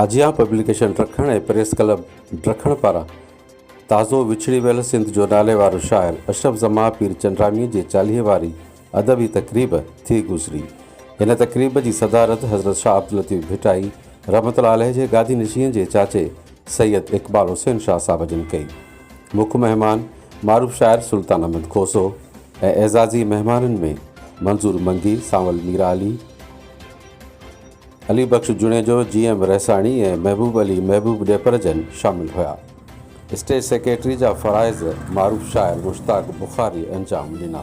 آجيان publication Darkhan ۽ press club Darkhan پاران تازو وڇڙي ويل سنڌ جو ناليوارو شاعر اشرف زمان پير چنڊرامي جي چاليهي واري ادبي تقريب ٿي گذري. هن تقريب جي صدارت حضرت شاهه عبداللطيف ڀٽائي رحمة الله عليه جي گادي نشينء جي چاچي سيد اقبال حسين شاهه صاحب جن ڪئي. مک مهمان معروف شاعر سلطان احمد کوسو ۽ اعزازي مهمانن ۾ منظور منگي، سانول ميرعلي، علي بخش جوڻيجو، جي ايم رحساڻي ۽ محبوب علي محبوب ڏيپرجن شامل هيا. اسٽيج سيڪريٽري جا فرائض معروف شاعر مشتاق بخاري انجام ڏنا.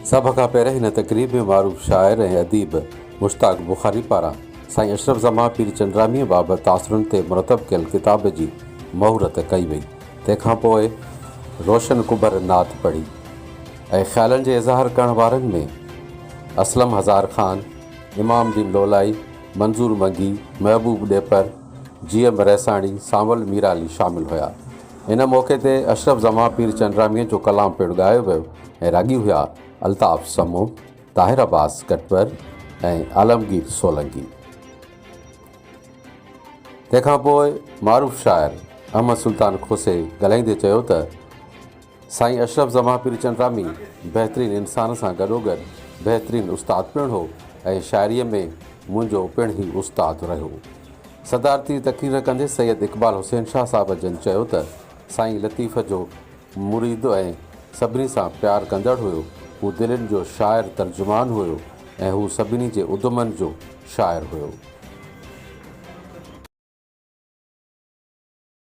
سڀ کان پهرين هن تقريب ۾ معروف شاعر ۽ اديب مشتاق بخاري پاران سائين اشرف زمان پير چنڊراميء بابت تاثرن تي مرتب ڪيل ڪتاب جي مهورت ڪئي وئي. تنهن کان پوء روشن ڪٻر نعت پڙهي. ۽ خيالن جي اظهار ڪرڻ وارن ۾ اسلم هزار خان، امام الدين لولائي، منظور منگي، محبوب ڏيپر، جي ايم رئيساڻي، سانول ميرعلي شامل هيا. ان موقعي تي اشرف زمان پير چنڊراميء جو ڪلام پڻ ڳايو ويو ۽ راڳي هيا الطاف سمو، طاهر عباس ڪٽور ۽ عالمگير سولنگي. تنهن کان پوء معروف شاعر احمد سلطان کوسي ڳالهائيندي چيو ته. سائين اشرف زمان پير چندرامي بهترين انسان سان گڏوگڏ بهترين استاد پڻ هو ۽ شاعريء ۾ منهنجو پڻ هي استاد رهيو. صدارتي تقرير ڪندي سيد اقبال حسين شاهه صاحب جن چيو ته سائين لطيف جو مريد ۽ سڀني سان پيار ڪندڙ هيو، هو دلين جو شاعر ترجمان هيو ۽ هو سڀني جي ادمن جو شاعر هيو.